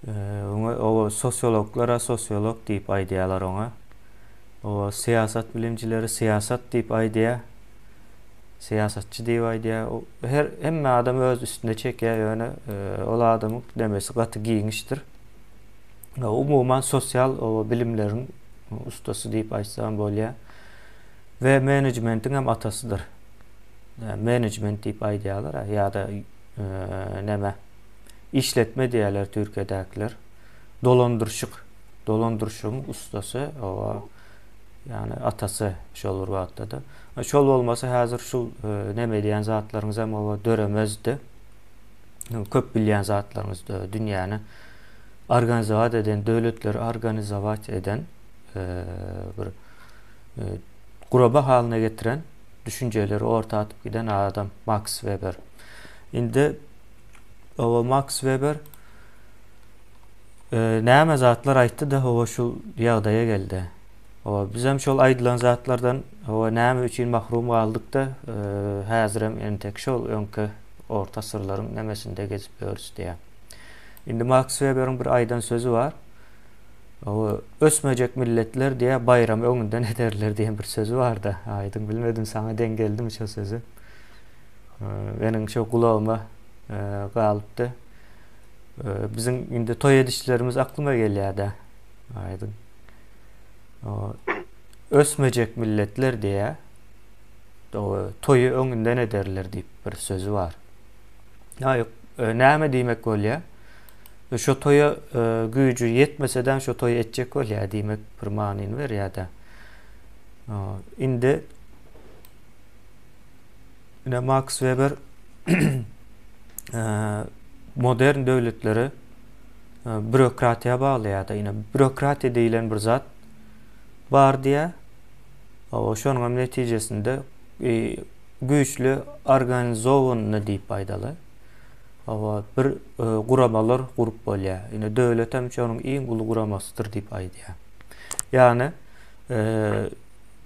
Oňa oba sosiologlar-a sosiolog diýip aýdýarlar oňa. Oba syýasat bilimcileri syýasat diýip aýdýar. Syýasatçy diýip aýdýar. Her hemme adam öz üstüne çekýär, ýöne e, ol adamyň demesi gaty giňişdir. Umuman sosial oba bilimleriň ustasy diýip aýtsam bolýar. We menejmentiň hem atasydyr. Menejment diýip aýdýarlar ýa-da e, näme? işletme diýýärler türkiýedäkiler dolandyryşyk dolandyryşygyň ussasy oba ýagny atasy şol bir wagtda-da şol bolmasa häzir şu e, neme edýän zatlaryňyz hem oba döremezdi köp bilýän zatlaryňyz e, dünýäni organizowat eden döwletleri organizowat eden e, bir guraba halyna getiren düşünjeleri orta atyp giden adam Max Weber. Indi Oba Max Weber näme zatlar aýtdy-da, oba şu ýagdaýa geldi. Oba bizem şol aýdylan zatlardan oba näme üçin mahrum galdyk-da, häzirem entek şol öňki orta asyrlaryň nemesinde gezip ýörüs diýýär. Indi Max Weberiň bir aýdan sözi bar. Oba ösmejek milletler diýýär, baýramy öňünden ederler diýen bir sözi bar-da. Aýdyň bilmedim saňa deň geldimi şo sözi. Meniň şo gulagyma galypdy. Biziň indi toý edişlerimiz aklyma gelýär-de. Aýdyň. Ösmejek milletler diýä. Toýy öňünden ederler diýip bir sözi bar. Aý, näme diýmek bolýar? Şo toýa güýji ýetmese-de şo toýy etjek bolýar diýmek bir manyny berýär-de. Indi Ine Max Weber modern döwletleri bürokratiýa baglaýar-da, ine bürokratiýa diýilen bir zat bar diýä. Oba şonuň hem netijesinde e, güýçli organizowanyny diýip aýdaly. Oba bir e, guramalar gurup bolýar. Ine döwlet hem şonuň iň uly guramasydyr diýip aýdýar. Ýagny e,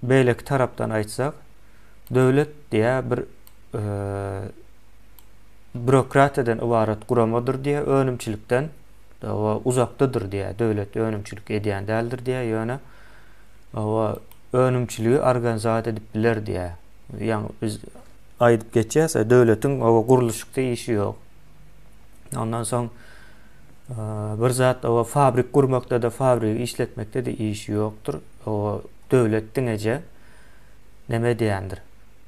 beýleki tarapdan aýtsak, döwlet diýä bir bürokratiýadan ybarat guramadyr diýä önümçilikden owa uzakdadyr diýä döwlet önümçilik edýän däldir diýä ýöne owa önümçiligi organizat edip biler diýä ýaňy biz aýdyp geçýäs döwletiň owa gurluşykda işi ýok ondan soň bir zat owa fabrik gurmakda da fabrigi işletmekde de işi ýokdur owa Döwlet diňeje neme edýändir,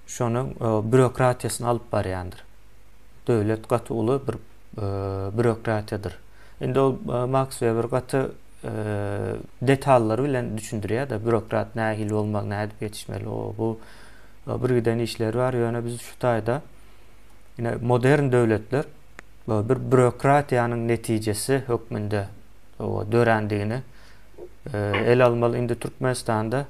şonuň býurokratiýasyny alyp barýandyr. Döwlet gaty uly bir býurokratiýadyr. Indi ol Maks Weber gaty detallary bilen düşündirýär-de, býurokrat nähili bolmaly, nädip ýetişmeli, o-bu bir giden işleri bar. Ýöne biz şu taýda ine modern döwletler bir býurokratiýanyň netijesi hökmünde dörändigini ele almaly indi türkmenistanda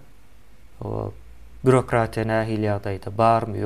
bürokratiýa nähili ýagdaýda barmy ýokmy.